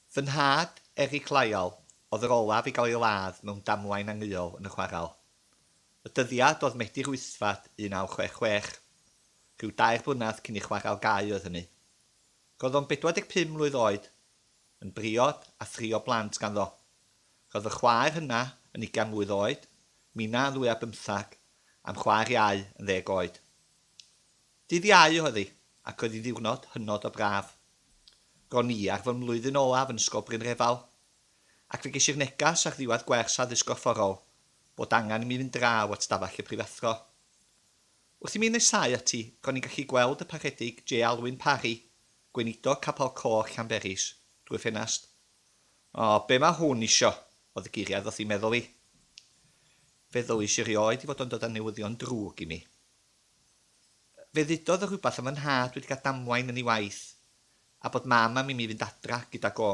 Fy nhad, Eric Lyall, oedd yr olaf i gael ei ladd mewn damwain angheuol yn y chwarel. Y dyddiad oedd Medi Rhwystfat 1966. Rhyw dair blynedd cyn i chwarel gau oedd hynny. Roedd o'n 45 mlwydd oed, yn briod a thri o blant ganddo. Roedd fy chwaer hyna yn ugain mlwydd oed, Mina yn ddwy ar bymthag, a'm chwaer iau yn ddeg oed. Dydd Iau oedd hi, ac oedd hi'n ddiwrnod hynod o braf. Ro'n i ar fy mlwyddyn olaf yn Ysgol Brynrefail, ac fe ges i'r neges ar ddiwedd gwers Addysg Gorfforol bod angen i mi fynd draw at stafell y prifathro. Wrth i mi nesáu ati, ro'n i'n gallu gweld y Parchedig J. Alwyn Parry, Gweinidog Capel Coch Llanberis, drwy'r ffenast. O, be mae hwn isio? oedd y geiriau ddoth i'm meddwl i. Fe ddywais i erioed ei fod o'n dod â newyddion drwg i mi. Fe ddudodd o rhywbeth am fy nhad wedi cael damwain yn ei waith, a bod Mam am imi fynd adra gydag o.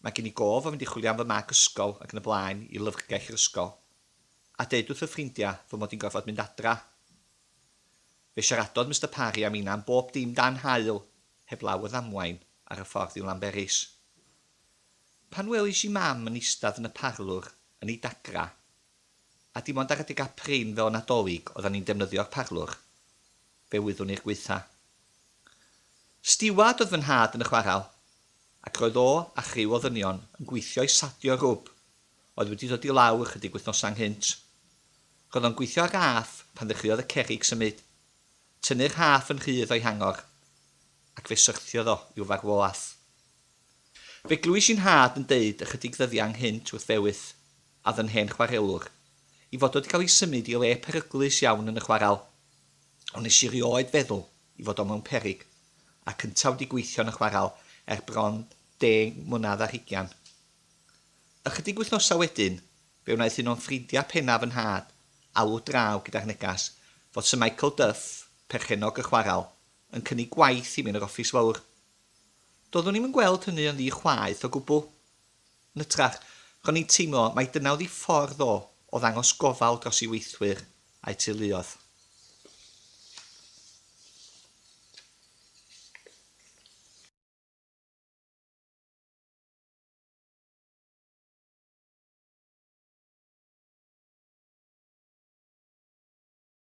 Mae gen i gof o fynd i chwilio am fy mag ysgol ac yn y blaen i lyfrgell yr ysgol, a deud wrth fy ffrindiau fy mod i'n gorfod mynd adra. Fe siaradodd Mister Parry am inna am bob dim dan haul, heblaw y ddamwain ar y ffordd i'w Lanberis. Pan welish i Mam yn eistedd yn y parlwr yn ei dagra, A dim ond ar adeg a prin fel y Nadolig oeddan ni'n defnyddio'r parlwr. Fe wyddwn i'r gwaetha. Stiward oedd fy nhad yn y chwarel, ac roedd o a chriw o ddynion yn gweithio i sadio rwb oedd wedi dod i lawr ychydig wythnosa ynghynt. Roedd o'n gweithio ar raff pan ddechreuodd y cerrig symud, tynnu'r rhaff yn rhydd o'i hangor, ac fe syrthiodd o i'w farwolaeth. Fe glywais i nhad yn deud ychydig ddyddiau ynghynt wrth Fewith, a fy hen chwarelwr, i fod wedi cael ei symud i le peryglus iawn yn y chwarel. Ond nes i rioed feddwl i fod o mewn peryg, a cynta wedi gweithio yn y chwarel er bron deng mlynedd ar hugian. Ychydig wythnosau wedyn, fe wnaeth un o'n ffrindiau pennaf fy nhad alw draw gyda'r negas fod Syr Michael Duff, perchennog y chwarel, yn cynnig gwaith i mi yn yr offis fawr. Doeddwn i'm yn gweld hynny yn ddi chwaeth o gwbl. Yn hytrach, ro'n i'n teimlo mai dyna oedd ei ffordd o o ddangos gofal dros ei weithwyr a'i teuluoedd.